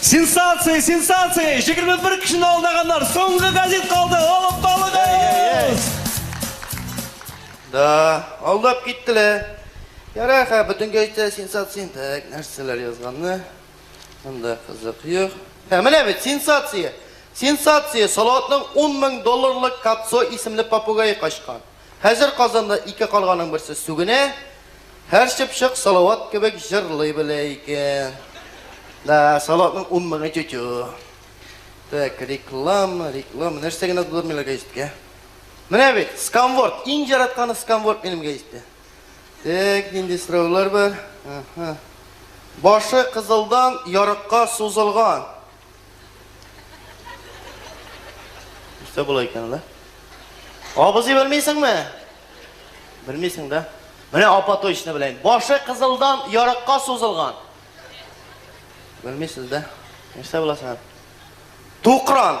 Сенсация, сенсация! 21 кешене алдаганнар. Соңгы газет калды. Алып балыгыз! Да, алдап киттеләр. Ярар, хә, бүтән газетта сенсация. Так, нәрсәләр язганны? Монда кызык юк. Ә менә бит сенсация. Сенсация, Салаватның 10 мең долларлык Кацо исемле попугае качкан. Хәзер Казанда ике карганың берсе сүгенә, һәр чыпчык Салават кебек җырлый белә икән. Да, Салаватның ун меңе тю-тю. Так, реклама, реклама. Нәрсә генә булдырмыйлар гәҗиткә. Менә бит, сканворд. Иң яратканы сканворд минем гәҗиттә. Так, нинди сораулар бар? Башы кызылдан ярыкка сузылган. Үстә була икән ла. Абызый белмисеңме? Белмисең да. Менә апа точно беләйм. Башы кызылдан ярыкка сузылган. Белмисез дә. Нәрсә була сән? Тукран.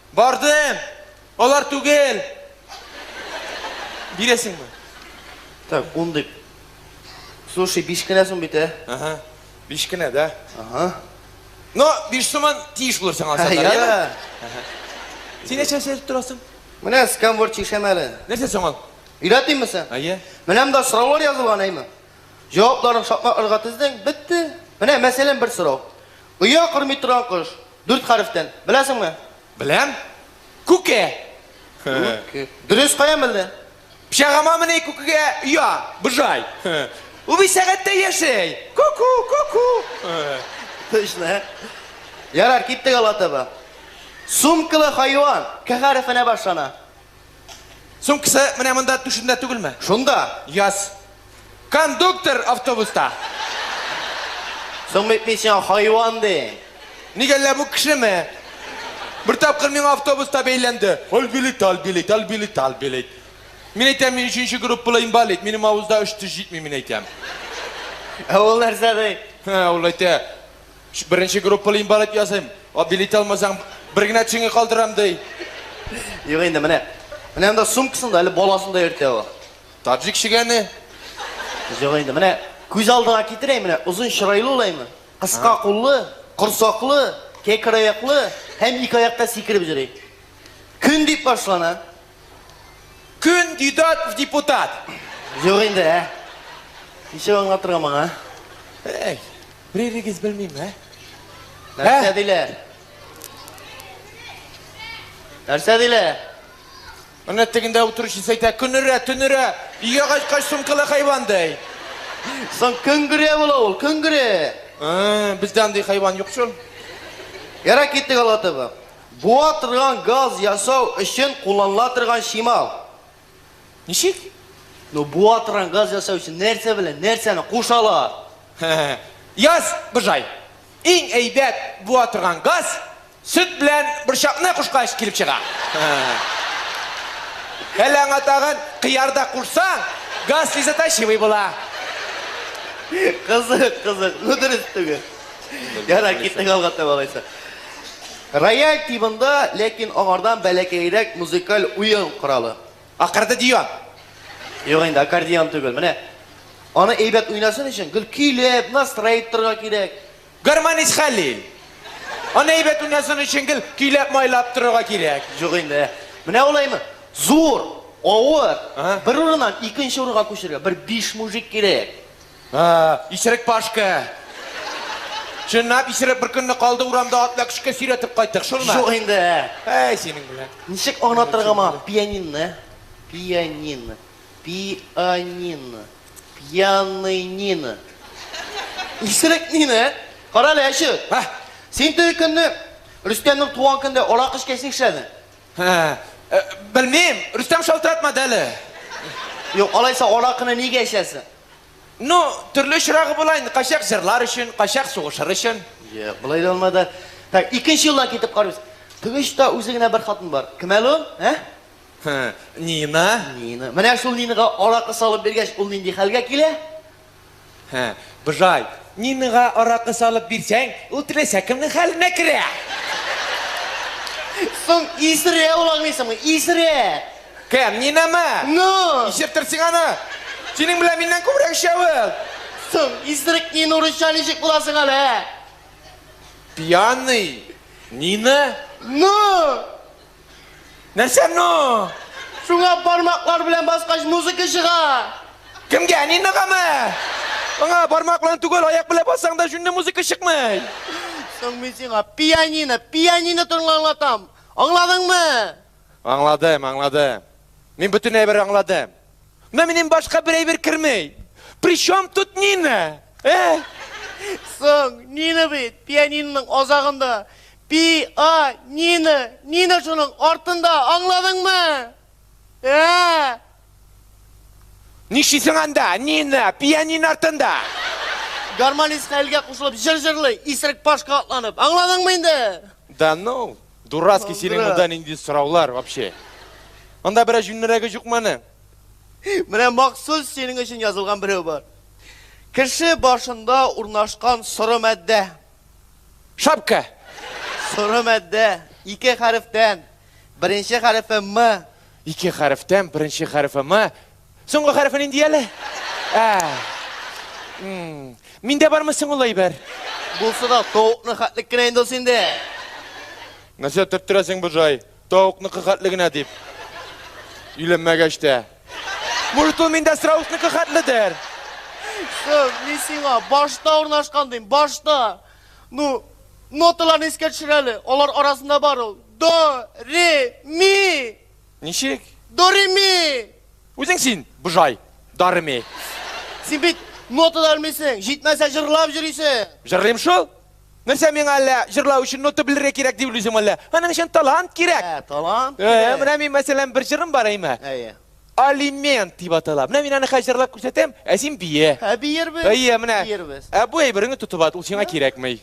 Бардым! Алар түгел! Бирәсеңме? Так, ун дип. Слушай, биш кенә сум бит, ә? Ага, биш кенә, да? Ага. Но биш суман тиеш булыр сиңа сатар, яме? Син нәрсә сәйрәп торасың? Менә скамвор чишәм әле. Нәрсә соң ул? Өйрәтимме син? Әйе. Менә монда сораулар язылган, әйме? Җавапларын шакмакларга тездең, бетте. Менә мәсәлән бер сорау. Оя кормый торган кош. Дүрт хәрефтән. Беләсеңме? Беләм. Күке. Күке. Дөрес, кая мелде? Пычагыма мени күкегә оя, быжай. Ул бит сәгатьтә яшәй. Ку-ку, ку-ку. Точно, ә? Ярар, киттек алга таба. Сумкалы хайван К хәрефенә башлана. Сумкасы менә монда түшендә түгелме? Шунда. Яз. Кондуктор автобуста. Соң бит мин сиңа хайван дим. Ник әллә бу кешеме? Бер тапкыр миңа автобуста бәйләнде. Аль билет, аль билет, аль билет, аль билет. Мин әйтәм, мин өченче группалы инвалид, минем авызда өч теш җитми, мин әйтәм. Ә ул нәрсә ди? Һе, ул әйтә, беренче группалы инвалид ясыйм, а билет алмасаң, бер генә тешеңне калдырам, ди. Юк инде, менә. Менә анда сумкасында, әле баласын да йөртә ул. Таджик чегәне. Җык инде. Менә күз алдына китерәйм, менә озын чырайлы ул әйме, кыска куллы, корсаклы, кәкре аяклы һәм ике аякта сикереп йөри. Көн дип башлана. Күн дидат в депутат. Җык инде, ә. Ничек аңлатырга моңа? Әй, беререгез белмим, ә? Нәрсә диләр? Нәрсә диләр? Менә тегендә утыручысы әйтә, көнерә, төнерә, өйгә кайткач сумкалы хайван дәй. Соң көнгерә була ул, көнгерә. Ә, бездә андый хайван юк шул. Ярар, киттек, алга таба. Буа торган газ ясау өчен кулланыла торган чимал. Ничек? Ну, буа торган газ ясау өчен нәрсә белән нәрсәне кушалар? Яз, Быжай. Иң әйбәт буа торган газ, Сөт белән борчакны кушкач килеп чыга. Әле аңа тагын кыяр да кушсаң, газ слезоточивый була. Кызык, кызык. Ну, дөрес түгел. Ярар, киттек алга таба алайса. Рояль тибында, ләкин аңардан бәләкәерәк музыкаль уен коралы. Аккордеон. Юк инде, аккордеон түгел. Менә аны әйбәт уйнасын өчен, гел көйләп, настраивторга кирәк. Гармонист Хәлил. Аны әйбәт уйнасын өчен гел көйләп-майлап торырга кирәк. Юк инде. Менә улаймы? Зур, авыр, бер урыннан икенче урынга күчергә бер биш мужик кирәк. Исерек Пашка. Чынлап исерек бер көнне калды урамда атна көчкә сөйрәтеп кайттык, шулмы? Юк инде. Әй, синең белән. Ничек аңлатырга моңа пианинны? Пианин. Пианин. Пьяный Нина. Исерек Нина, ә? Кара әле, әче. Һә. Син теге көнне Рөстәмнең туган көндә аракы эчкәч нишләдең? Һә. Э, белмим, Рөстәм шалтыратмады әле. Юк, алайса аракыны нигә эчәсең? Ну, төрле очрагы була инде, кайчак җырлар өчен, кайчак сугышыр өчен. Юк, болай да булмады. Так, икенче юлдан китеп карыйбыз. Тыгыч та үзе генә бер хатын бар. Кем әле ул? Ә? Нина? Нина. Менә шул Нинага аракы салып биргәч, ул нинди хәлгә килә? Һә, быжай. Нинага аракы салып бирсәң, ул теләсә кемнең хәленә керә. Соң исерә ул аңлыйсыңмы? Исерә. Кем, Нинамы? Ну! Исертер син аны. Синең белән миннән күбрәк эчә ул. Соң исерек Нина урысча ничек була соң әле? Пьяный Нина? Ну! Нәрсә ну? Шуңа бармаклар белән баскач музыка чыга. Кемгә? Ниногамы? Аңа бармак белән түгел, аяк белән бассаң да җүнле музыка чыкмый. Соң мин сиңа пианино, пианино турында аңлатам. Аңладыңмы? Аңладым, аңладым. Мин бөтен әйбер аңладым. Менә минем башка бер әйбер кермей. Причем тут Нина? Э? Соң, Нина бит, пианиноның азагында. Пианино! Нино шуның артында, аңладыңмы? Ә-ә-ә! Нишлисең анда, Нина, пианин артында? Гармонист хәлгә кушылып җыр җырлый, исерек пашка атланып. Аңладыңмы инде? Да ну, дурацкий, синең монда нинди сораулар вообще? Анда берәр җүннерәге җукмы аны? Менә махсус синең өчен язылган берәү бар. Кеше башында урнашкан соры матдә. Шапка. Соры мәддә, ике хәрефтән. Беренче хәрефе М. Ике хәрефтән, беренче хәрефе М. Соңгы хәрефе нинди әле? Ә. Миндә бармы соң ул әйбер? Булса да, тавыкны хәтлек кенә инде ул синдә. Нәрсә төрттерәсең, Буржай? Тавыкныкы хәтле генә дип. Өйләнмәгәч тә. Может, ул миндә страусникы хәтледер? Кыз, мин сиңа башта урнашкан дим, башта. Ну, ноталарны искә төшер әле. Алар арасында бар ул. До, ре, ми. Ничек? До, ре, ми. Үзең син, быжай, дарми. Син бит нота да белмисең, җитмәсә җырлап йөрисең. Җырлыйм шул. Нәрсә миңа әллә җырлау өчен нота белергә кирәк дип уйлыйсың әллә? Аның өчен талант кирәк. Ә, талант кирәк. Әйе, менә мин мәсәлән бер җырым бар әйме. Әйе. Алимент дип атала. Менә мин аны хәзер җырлап күрсәтәм, ә син бие. Ә биербез. Әйе, менә. Биербез. Ә бу әйбереңне тотып ат, ул сиңа кирәкми.